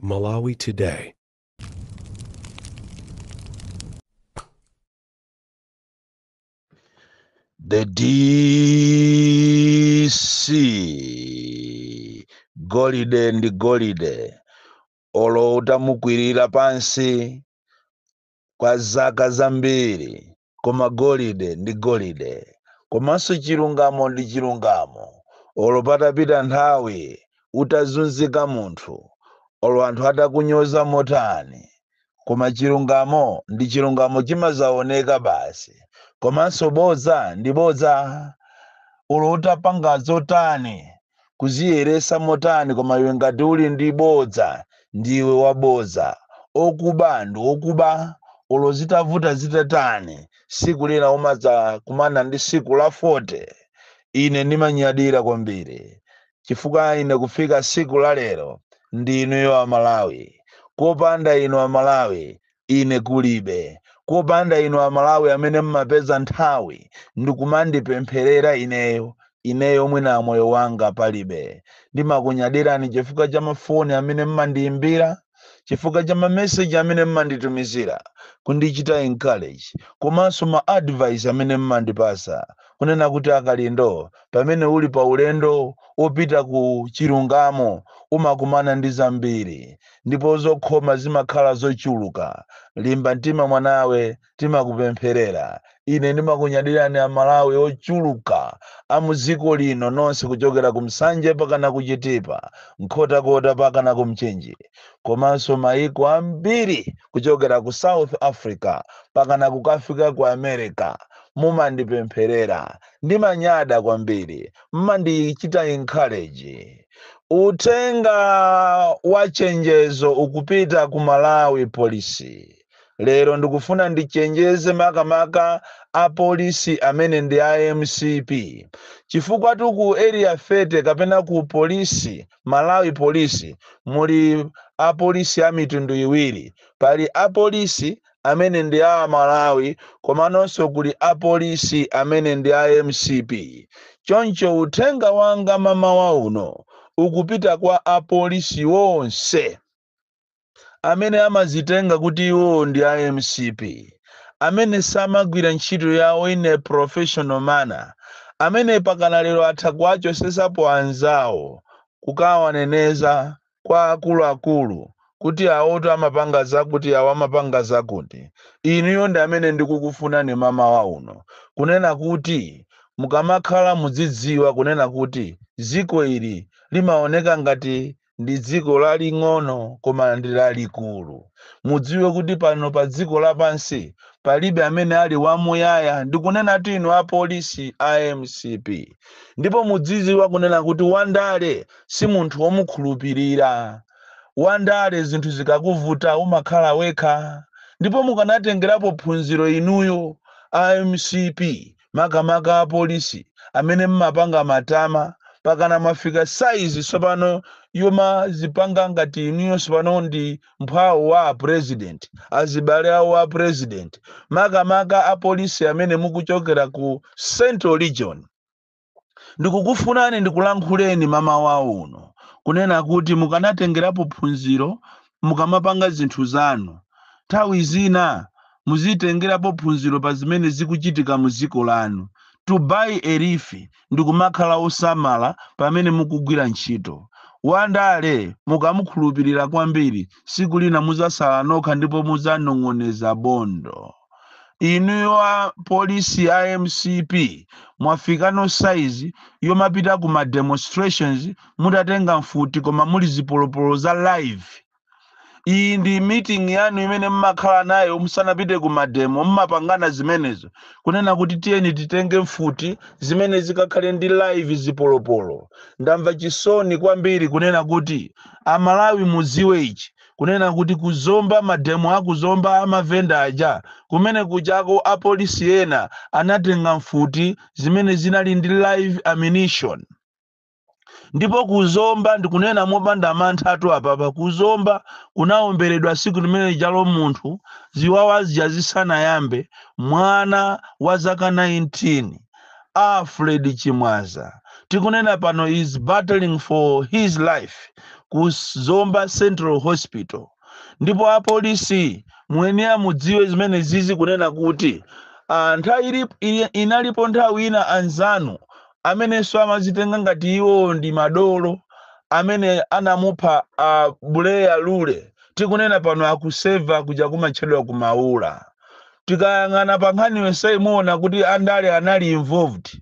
Malawi Today. The DC golide ndi golide olo utamukwirira pansi kwa zaka zambiri, koma golide ndi golide, komanso chilungamo ndi chilungamo, olo patapita nthawi, utazunzika munthu, olo anthu atakunyoza motani, koma chilungamo ndi chilungamo chimazaoneka basi, komanso bodza ndi bodza, olo utapanga zotani, Kuziyeresa motani koma iwe ngati uli ndi bodza ndiwe wabodza okuba ndi okuba olo zitavuta zitatani siku lina umadza kumana ndi siku la 40 ine ndimanyadira kwambiri chifukwa ine kufika siku la lero ndi inuyo amalawi kopanda inu amalawi Ine kulibe. Kopanda inu a Malawi amene mmapeza nthawi ndikumandipempherera ineyo, ineyo mwina moyo wanga palibe. Ndimakunyadirani chifukwa cha ma foni amene mmandiyimbira, chifukwa cha ma message amene mmanditumizira kundichita encourage komanso ma advice amene mmandipasa kunena kuti a Kalindo pamene uli pa ulendo opita ku chilungamo umakumana ndi zambiri. ndipo zokhoma zimakhala zochuluka limba mtima mwanawe timakupempherera ine ndimakunyadirani amalawi ochuluka a mudziko lino nonse kuchokera ku Nsanje pakana kuchitipa nkhotakota pakana ku mchinji komanso maiko ambiri kuchokera ku south africa pakana kukafika ku america mumandipempherera ndimanyada kwambiri mmandichita encourage Uthenga wa chenjezo ukupita ku Malawi Police. Lero ndikufuna ndichenjeze makamaka apolisi amene ndi a mcp chifukwatu ku area 30 kapena ku polisi Malawi Police muli apolisi a mitundu iwiri. Pali apolisi amene ndi a Malawi komanonso kuli a Police amene ndi a mcp. Choncho uthenga wanga mamawa uno ukupita kwa a Police onse amene amazitenga kuti iwowo ndi a mcp, amene samagwira ntchito yawo in a professional manner, amene pakana lero atha kuwachosesapo anzawo kukawaneneza kwa akuluakulu kuti awoto amapanga zakuti awo amapanga zakuti inuyo ndi amene ndikukufunani mamawa uno kunena kuti mukamakhala mudzidziwa kunena kuti dziko ili limaoneka ngati ndi dziko laling'ono koma ndi lalikulu mudziwe kuti pano pa dziko lapansi palibe amene ali wamuyaya ndikunena kuti inu apolisi a mcp ndipo mudzidziwa kunena kuti wandale si munthu womukhulupirira. Wandale zinthu zikakuvuta umakhala wekha ndipo mukanatengerapo phunziro inuyo a mcp makamaka apolisi amene mmapanga matama pakana mwafika size sopano yomazipanga ngati inuyo sopano ndi mphwawo wa president azibale awo a president makamaka apolisi amene mukuchokera ku central region ndikukufunani ndikulankhuleni mamawa uno kunena kuti mukanatengerapo phunziro mukamapanga zinthu zanu nthawi zina muzitengerapo phunziro pa zimene zikuchitika mu dziko lanu to borrow a leaf ndikumakhala osamala pamene mukugwira ntchito wandale mukamukhulupirira kwambiri siku lina muzasala nokha ndipo muzanong'oneza bondo inuyo a polisi a mcp mwafika no saizi yomapita ku ma demonstrations mutatenga mfuti koma muli zipolopolo za live iyi ndi meeting yanu imene mmakhala nayo musanapite ku mademo mmapangana zimenezo kunena kuti tiyeni titenge mfuti zimene zikakhale ndi live zipolopolo ndamva chisoni kwambiri kunena kuti amalawi muziwe ichi kunena kuti ku Zomba mademo a ku Zomba a mavenda aja, kumene kujako apolisi ena anatenga mfuti zimene zinali ndi live ammunition. Ndipo ku Zomba, ndikunena mopanda manthatu apapa, ku Zomba kunawomberedwa tsiku limene lijalo munthu ziwawa zija zisanayambe, mwana wa zaka 19. Alfred Chimwaza tikunena pano is battling for his life ku Zomba Central Hospital ndipo apolisi muyenera mudziwe zimenezizi kunena kuti ah, nthawi ili- ili- inalipo nthawi ina anzanu amenenso amazitenga ngati iwo ndi madolo amene anamupha a Buleya Lule tikunena pano akuseva kuja kumatchedwa kumaula tikayang'ana pa nkhani yonseyi muona kuti andale anali involved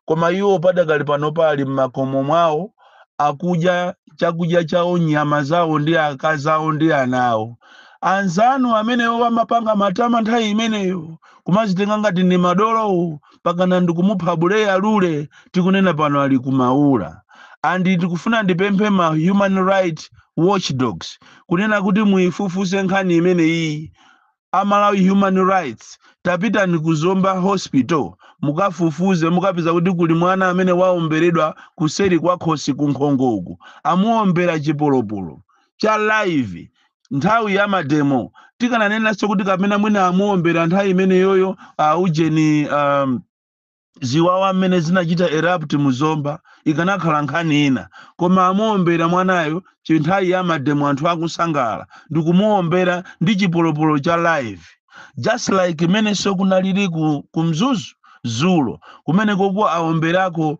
koma iwo padakali pano ali m'makomo mwawo akudya chakudya chawo nyama zawo ndi akazi awo ndi ana awo anzanu amenewo amapanga matama nthawi imeneyo kumazitenga ngati ndi madolowo pakana ndikumupha buleya lule tikunena pano ali kumaula and ndikufuna ndipemphe ma human right watchdogs kunena kuti muifufuze nkhani imeneyi amalawi human rights tapitani ku zomba hospital mukafufuze mukapeza kuti kuli mwana amene waomberedwa kuseri kwa khosi ku nkhongo uku amuombera chipolopolo cha live nthawi ya mademo tikananenanso kuti kapena mwina amuombera nthawi imeneyoyo uh, ujeni um, ziwawa zimene zinachita erupt muzomba ikanakhala nkhani ina koma amuombera mwanayo chinthawi ya mademo anthu akusangalala ndikumuombera ndi chipolopolo cha live just like imenenso kunalili ku, ku mzuzu zulo kumene koko aomberako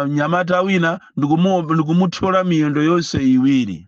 mnyamata wina ndikumu- ndikumuthyola miyendo yonse iwiri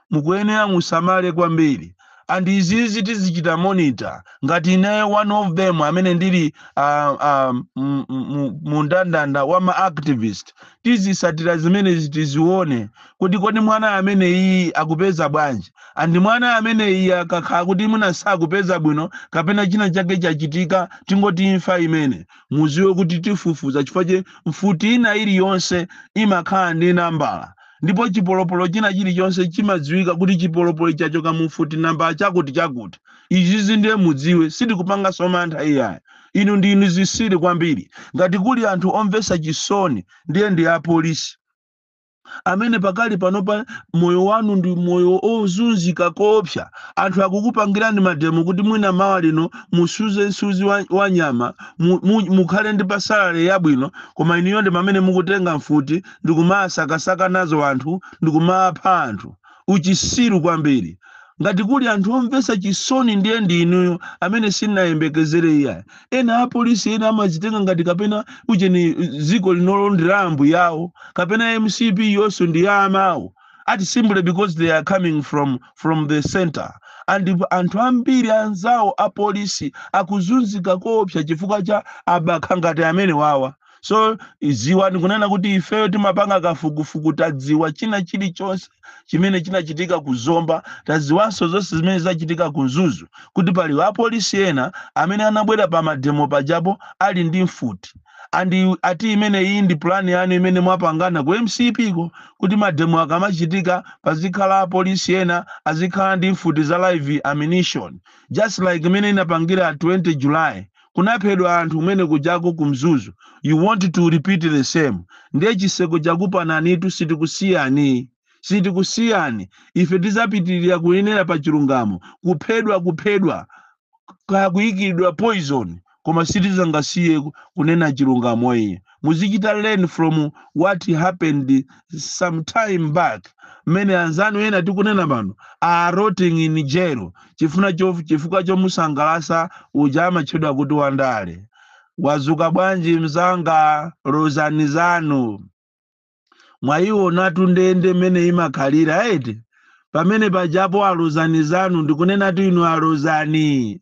mukuyenera musamale kwambiri and izizi tizichita monitor ngati ineyo one of them amene ndili uh, uh, mundandanda wa ma activist tizisatira zimenezi tizione kuti kodi mwana amene iyi akupeza bwanji and mwana amene iyi akakhala kuti mwina sakupeza bwino kapena china chake chachitika tingoti imfa imene muziwe kuti tifufuza chifukwa choti mfuti ina iliyonse imakhala ndi nambala ndipo chipolopolo china chilichonse chimadziwika kuti chipolopolo chachoka mu mfuti nambala chakuti chakuti izizi ndiye mudziwe sitikupanganso mantha iyayi inu ndi inu zisiri kwambiri ngati kuli anthu omvetsa chisoni ndiye ndi apolisi amene pakali panopa moyo wanu ndi moyo ozunzika koopsa anthu akukupangirani mademo kuti mwina mawa lino musuze msuzi wa, wa nyama mu, mu, mukhale ndi pasalale yabwino koma inuyo ndi amene mukutenga mfuti ndikumasakasaka nazo anthu ndikumapha anthu uchisiru kwambiri ngati kuli anthu omvetsa chisoni ndiye ndi inuyo amene sinayembekezere iyayi ena apolisi ena amazitenga ngati kapena ujeni dziko linolo ndi la ambuyawo kapena mcp iyonso ndi ya amawo ati simply because they are coming from from the center and anthu ambiri anzawo apolisi akuzunzika koopsa chifukwa cha abakha ngati amenewawa so ziwani kunena kuti ifeyo timapanga kafukufuku tadziwa china chilichonse chimene chinachitika ku zomba tadziwanso zonse zimene zachitika ku mzuzu kuti pali apolisi ena amene anabwera pa mademo pajapo ali ndi mfuti andi ati imene iyi ndi pulani yanu imene mwapangana ku mcp ko kuti mademo akamachitika pazikhala apolisi ena azikhala ndi mfuti za live ammunition just like imene munapangira 20 july kunaphedwa anthu kumene kujako ku mzuzu you want to repeat the same ndiye chiseko chakupananitu sitikusiyani sitikusiyani ife tizapitirira kuyenera pa chilungamo kuphedwa kuphedwa kaya kuyikidwa poison koma sitizangasiye kunena chilungamo iye muzichita learn from what happened some time back mmene anzanu ena tikunena pano are rotting in jail chifukwa chomusangalasa uja amatchedwa kuti wandale wazuka bwanji mzanga Lozani Zanu mwayiwonatu ndende mmene imakhalira eti pamene pajapo a Lozani Zanu ndikunenatu inu a Lozani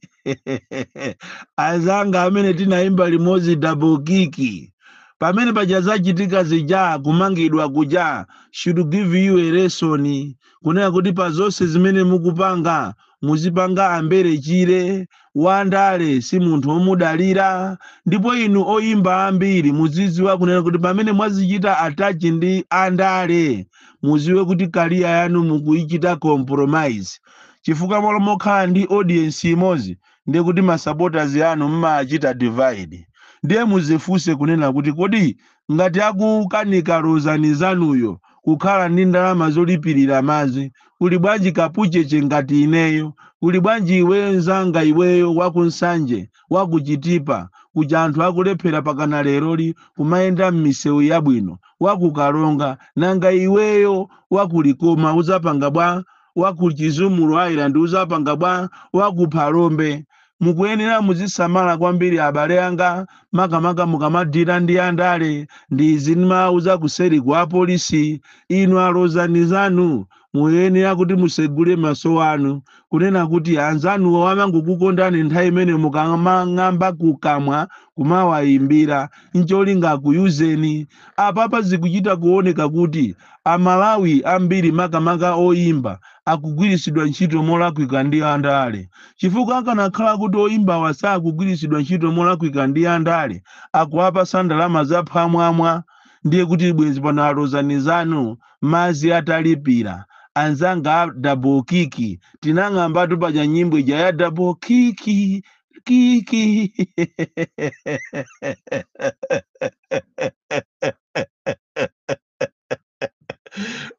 azanga amene tinayimba limodzi double kiki pamene paja zachitika zija kumangidwa kuja should give you a lesson kunena kuti pa zonse zimene mukupanga muzipanga ambere chire wandale si munthu omudalira ndipo inu oyimba ambiri muziziwa kunena kuti pamene mwazichita attach ndi andale muziwe kuti career yanu mukuichita compromise chifukwa malo mokhala ndi audience imodzi ndiye kuti masupporters anu mmachita divide ndiye muzifunse kunena kuti kodi ngati akukanika Lozani Zanuyo kukhala ndi ndalama zolipilira madzi kuli bwanji kapucheche ngati ineyo kuli bwanji iweyo nzanga iweyo wa ku Nsanje wa ku Chitipa kuja anthu akulephera pakana leroli kumayenda m'misewu yabwino wa ku Karonga nanga iweyo wa ku Likoma uzapanga bwa wa ku Chizumulu Island uzapanga bwa wa ku Phalombe Mukuyenera muzisamala kwambiri abale anga makamaka mukamadila ndi andale ndi izi ndimawauza kuseri ku apolisi inu a Lozani Zanu muyenera kuti musegule maso anu kunena kuti anzanuwo amangokukondani nthawi imene mukamang'amba kukamwa kumawayimbira ncholinga akuyuzeni apapa zikuchita kuoneka kuti amalawi ambiri makamaka oyimba akugwiritsidwa ntchito molakwika ndi andale chifukwa akanakhala kuti oyimbawa sakugwiritsidwa ntchito molakwika ndi andale akuwapasa ndalama za phwamwamwa ndiye kuti bwenzi pano a Lozani Zanu madzi atalipira anzanga a double kiki tinang'ambatu paja nyimbo ija ya double kiki kiki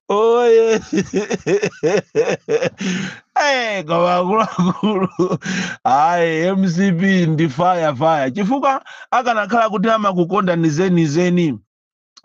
Oye. Eh, koma akuluakulu. Ayi, MCP ndi fire fire. Chifukwa akanakhala kuti amakukondani zenizeni.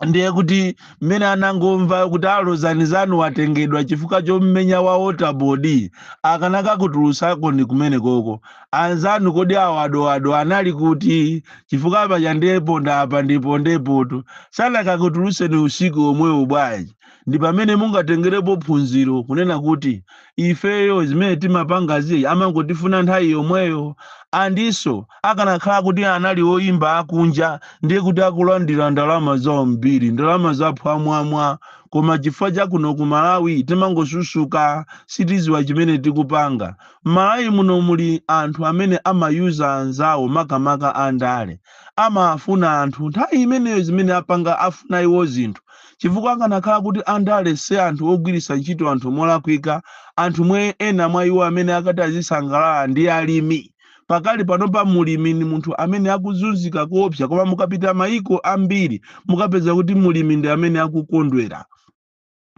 ndiye kuti mmene anangomva kuti a Lozani Zanu watengedwa chifukwa chommenya wa waterboard akanakakutulutsakoni kumene koko anzanu kodi awo a dadada anali kuti chifukwa paja nde ponda apa ndi pondepo to sanakakutulutseni usiku omwewo bwanji ndi pamene mungatengerepo phunziro kunena kuti ifeyo zimene timapangazi amangotifuna nthawi yomweyo and nso akanakhala kuti anali oyimba akunja ndiye kuti akulandira ndalama zambiri ndalama zaphwamwamwa koma chifukwa chakuno ku malawi timangosusuka sitiziwa chimene tikupanga Mmalawi muno muli anthu amene ama user anzawo makamaka a ndale. Amafuna anthu nthawi imeneyo zimene apanga afuna iwo zinthu. Chifukwa akanakhala kuti a ndale si anthu ogwiritsa ntchito anthu molakwika, anthu omwe ena mwa iwo amene akati azisangalala ndi alimi. Pakali panopa mulimi ndi munthu amene akuzunzika koopsa koma mukapita mayiko ambiri mukapeza kuti mulimi ndi amene akukondwera.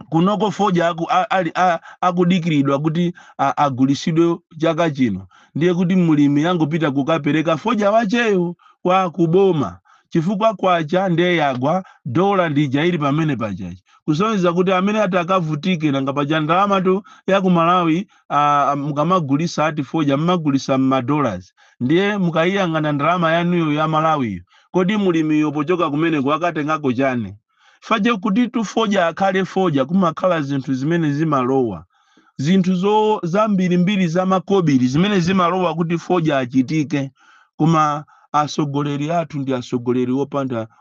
kunoko fodya aku, a, ali, a, akudikiridwa kuti a- agulisidwe chaka chino ndiye kuti mlimi angopita kukapereka fodya wacheyo kwa kuboma chifukwa kwacha ndiye yagwa dola ndi ija ili pamene pachachi kusonyeza kuti amene ati akavutike nanga paja ndalamatu ya ku malawi ah, mukamagulisa ati fodya mmagulisa mmadollars ndiye mukayiyang'ana ndalama yanuyo ya malawiyo kodi mlimiyo pochoka kumeneko akatengako chani fache kutitu fodya akhale fodya kumakhala zinthu zimene zimalowa zinthu zambirimbiri zamakobiri zimene zimalowa kuti fodya achitike koma atsogoleri athu ndi atsogoleri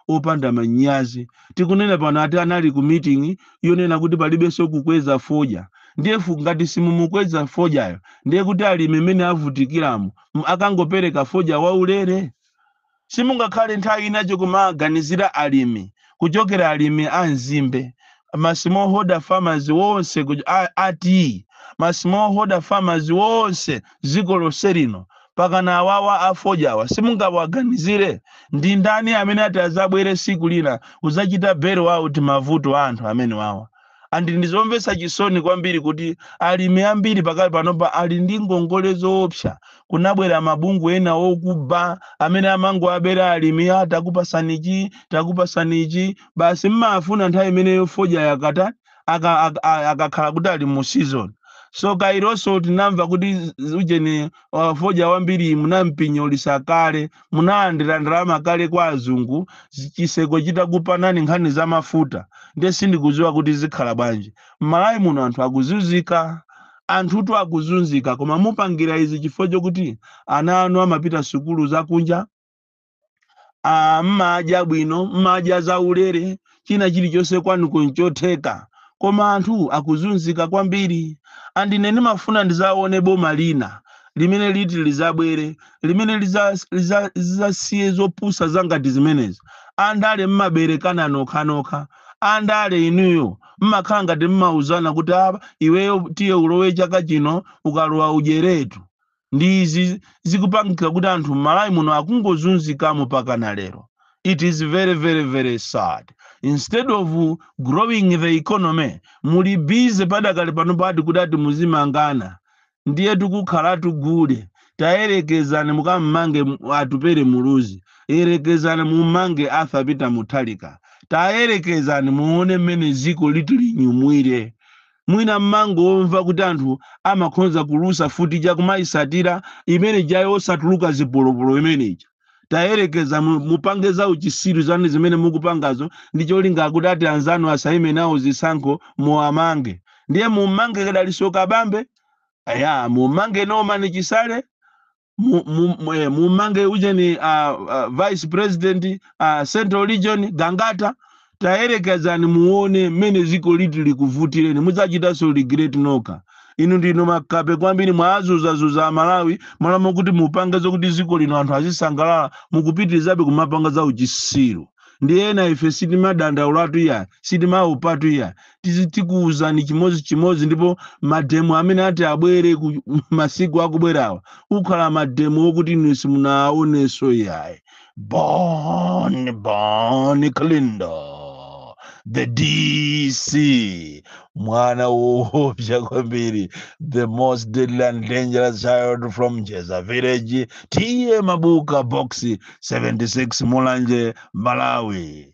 opanda manyazi tikunena pano ati anali ku meeting yonena kuti palibenso kukweza fodya ndiye fu- ngati simumukweza fodyayo ndiye kuti alimi mmene avutikiramo m- akangopereka fodya waulere simungakhale nthawi inayo kumaganizira alimi kuchokera alimi a nzimbe ma smallholder farmers wonse ku- a- ati ma smallholder farmers wonse dziko lonse lino pakana awawa afodyawa simungawaganizire ndi ndani amene ati azabwere siku lina kuzachita bail out mavuto a anthu amenewawa and ndi zomvetsa chisoni kwambiri kuti alimi ambiri pakali panopa ali ndi ngongole zoopsa kunabwera mabungwe ena okuba amene amangowabera alimi takupasani ichi takupasani ichi basi mmafuna nthawi imeneyo fodya akata aka- aka- a- akakhala kuti ali mu season so kayanso tinamva kuti z- ujeni uh, fodya wambiri munampinyolisa kale munalandira ndalama kale kwa azungu zi- chiseko chitakupanani nkhani za mafuta ndiye sindikudziwa kuti zikhala bwanji m'malawi muno anthu akuzunzika anthutu akuzunzika koma mupangira izi chifukwa chokuti ana anu amapita sukulu zakunja ah, mmadya bwino mmadya zaulere China chilichonse kwanuko nchotheka koma anthu akuzunzika kwambiri and ine ndimafuna ndizaone boma lina limene liti lizabwere limene lizasiye zopusa zangati zimenezi. Andale mmaberekana nokhanokha. Andale inuyo mmakhala ngati mmauzana kuti apa iweyo tiye ulowe chaka chino ukalowa udyeretu. ndi izi zikupangika kuti anthu m'malawi muno akungozunzikamo pakana lero it is very very very sad instead of growing the economy muli busy padakali pano pati kuti ati muzimangana ndiye tikukhalatu gule tayerekezani mukammange mu- atupere muluzi yerekezani mummange arthur peter mutharika tayerekezani muone mmene ziko liti linyumwire Mwina m'mangomva kuti anthu amakhonza kulusa futi ija kumaisatira imene ija yosatuluka zipolopolo imene ija. Tayerekeza mu, mupange za uchisiru zanu zimene mukupangazo ndi cholinga kuti ati anzanu asaime nawo zisankho muwamange. Ndiye mummange Dalitso Kabambe? Eya, mummange Norman Chisale? mu- mu- mu- eh, mumange ujeni uh, uh, vice president uh, central region gangata tayerekezani muone mmene ziko liti likuvutireni mudzachitanso regret nokha inu ndinu makape kwambiri mwazuzazuza amalawi m'malo mokuti mupange zokuti ziko lino anthu azisangalala mukupitirizabe kumapanga za uchisiru ndiye ena ife sitimadandaulatu iya sitimaopatu iya tizi- tikuwuzani chimodzi chimodzi ndipo mademo amene ati abwere masiku akubwerawa akhala mademo okuti inu simunaonenso yayi bon bon kalindo the dc mwana woopsa kwambiri the most deadly and dangerous child from jeza village ta mabuka box 76 mulanje malawi